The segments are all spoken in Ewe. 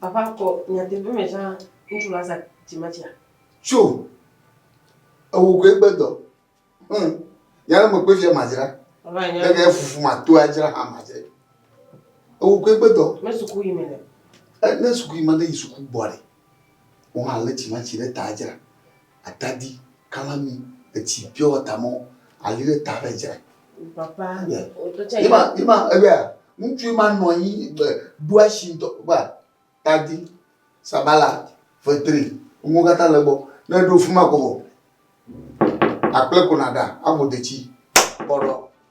Papa kɔ nyateƒe me zã ŋutsu la za dzimetsia. Tso ewo koe gbedɔ. Hmm. Nyara me kpefia madzra. Papa nya. Ege fufu ma to adzra ha madzra. Ewo koe gbedɔ. Me suku yi mele. E ne suku yi ma de yi suku gbɔ re. Wo ha le dzimetsi ɖe ta adzra. Atadi, kalami, etsi, piɔwatamɔ, ali ɖe ta ɖe dzra. Papa. Ima ima ebe ŋutsu ima nɔ anyi be ɖo asi ŋutɔ ba tadi sabala fetri ŋuwo katã le gbɔ ne eɖo fima ko vɔ akple ko naɖa abo detsi kpɔɖɔ.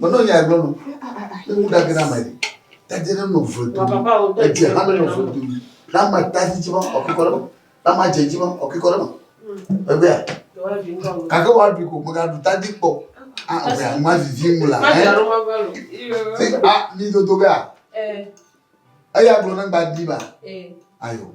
Menɔ nya gblɔ no. Ne wu dage na mai. Tadi ne no vre do. Edze ha ne no vre do. Na ma tadi dzi ma o ke kore ma. Na ma dze dzi ma o ke kore ma. Ebe ya. Kake wa bi ko mega du tadi kpo. Ah o ya ma vivi mula. Ma ja ro ma va lo. Ti ah ni do do ga. Eh. Eya gblɔ ne gba di ba. Eh. Ayo.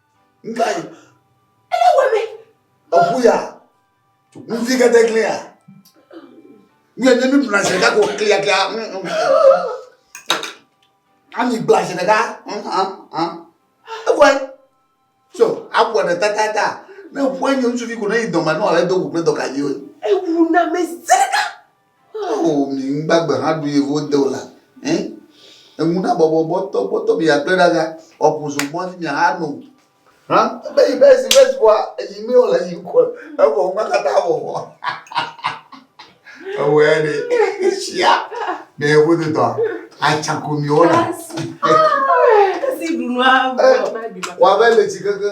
Ngai. Ele wɛmɛ. Eku ya. Nfi kete kle ya. Nye ne mi bla se ka ko kle ya kle ya. Ami bla se ka. Eku. So, aku ne ta ta ta. Ne ku ne nsufi ko ne idoma no ale do ku ne doka yo. Eku na me zeka. Ao mi ŋgbagbe hã ɖu yevu wode o la ẽ! Eŋu na bɔbɔ bɔtɔ bɔtɔ mi akple ɖa ga ɔ ƒu zo mɔ dzi mi aha no. Hã be yi be esi be esi bɔa eyi mi o le yi kɔ evɔ ŋgba kata avɔ vɔ. Ewɔe ɖe sia ne yevu do dɔ atsa ko mi wɔ na. Esi ɖu nua vɔ. Wa be le tsi keke.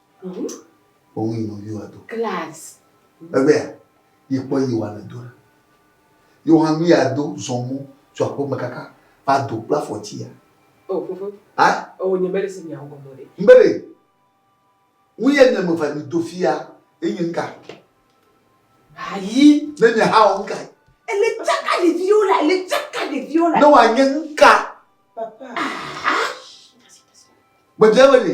Wowu yi nɔvi wa do. Class. Egbea, yi kpɔ yi wa le do ɖa. Yi wa nu ya do zɔn mɔ tso aƒe me kaka va do kple afɔ tsi ya. O fofo. Ha? O nye mele se nya ŋgɔ mɔ ɖe. Mbele. Nu ya nye me va mi do fia ye nye ŋka. Ayi. Ne nye ha o ŋka. Ele tsaka ɖeviwo la, ele tsaka ɖeviwo la. Ne wa nye ŋka. Papa. Ah. Gbedze mele.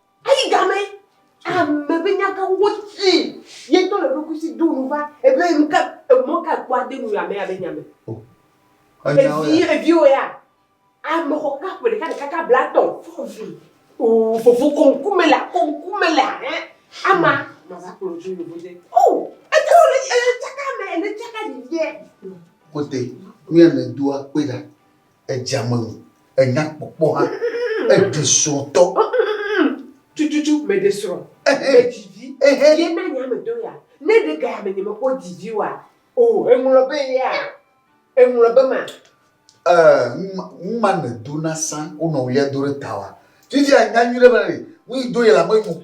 Eyi gamɛ, ame be nyagã wo ti ye ŋutɔ le eɖokui si do nu va ebe nu ka emɔ ka ekpɔ ade nu ame ya be nya me. Evi eviwo ya ame xɔ kaka ƒe ɖeka ɖeka kaka bla tɔ̃ fɔ vi oo fofo kɔ ŋku me la kɔ ŋku me la hɛ ama ma va kplɔ dzo yovo de oo eke wole eye tsaka me ene tsaka ɖiɖiɛ. Kɔte nuya me doa kpe ɖa Edzea me ŋu. Enya kpɔkpɔ hã. Eɖi srɔ̃ ŋutɔ. Tututu meɖe srɔ̃. Medzi vi. Ye na nye ame do ya. Ne ɖe gaya me nyemekpɔ dzi vi oa, o, eŋlɔ be yea? Eŋlɔ be ma? Ee, nu ma ne do na sã wonɔ̃ ɣlia do ɖe ta oa, vivia nya nyuiɖe be nu yi do ye le ame nyo.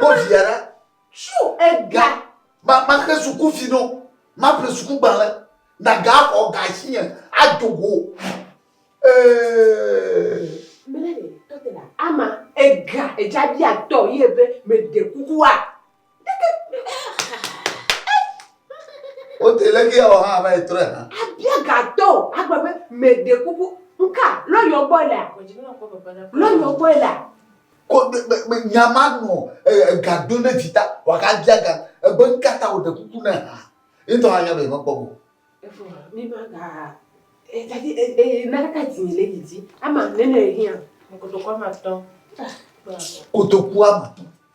Bɔ via ɖa. Tsu ega. Ma ma xe suku fi no. Ma ƒle suku gbalẽ. Na ga xɔ ga si nye. Ado go. Ee. Mele ne tɔte la ama ega edza bia tɔ ye be me de kuku wa. Wote le ke awɔ hã va yi trɔe hã. Abia gatɔ o, agba be meɖe kuku nka lɔyɔ gbɔ lea. Lɔyɔ gbɔ lea. Ko nyama nɔ ega do ne vita waka bia ga ebe nka ta wòɖe kuku ne ha. Yetɔ hã nya be yemekpɔ o. Efo ha mi ma ga etadi e e naka ka ti le didi ama nene hia. Kotoku ama tɔ. Kotoku ama tɔ.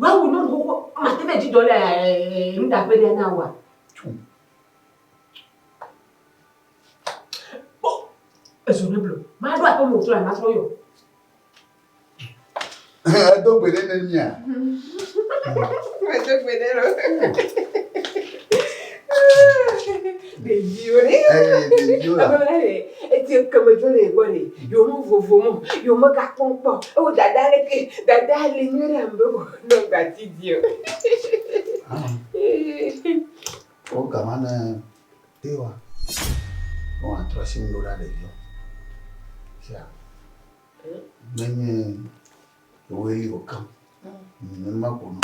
Mawu nu xoxo mate ɖe dzi dɔ le nuɖaƒe ɖe na wa. Kpɔ ezo ne blo. Maɖo aƒe mo tso la matrɔ yɔ. Edo gbe ɖe ne mia. Edo gbe ɖe lo. Ɖeviwo ɖe. Eye ɖeviwo la. Ame lɛ eti ekeme dzo le gbɔ ɖe. Yewo me vovo mo. Yewo me ga kpɔm kpɔ. Ewo dada le ke. Dada le nyuie ɖe ambe go nɔ ga ti di o. O gama ne te wa. Wo wa trɔ si ŋdo ɖa ɖeviwo. Sia. Ne nye. Ewe li o kam. Ne ma ko no.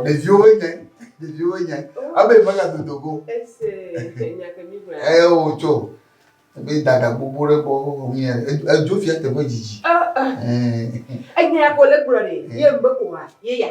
Ɖeviwo nye ɖeviwo nye abe mega dodo go eye wotso ebe dada gbogbo ɖe gbɔ wòmia edzo fia teƒe dzidzi. Enya ko le gblɔ ɖe ye mbe oa ye ya.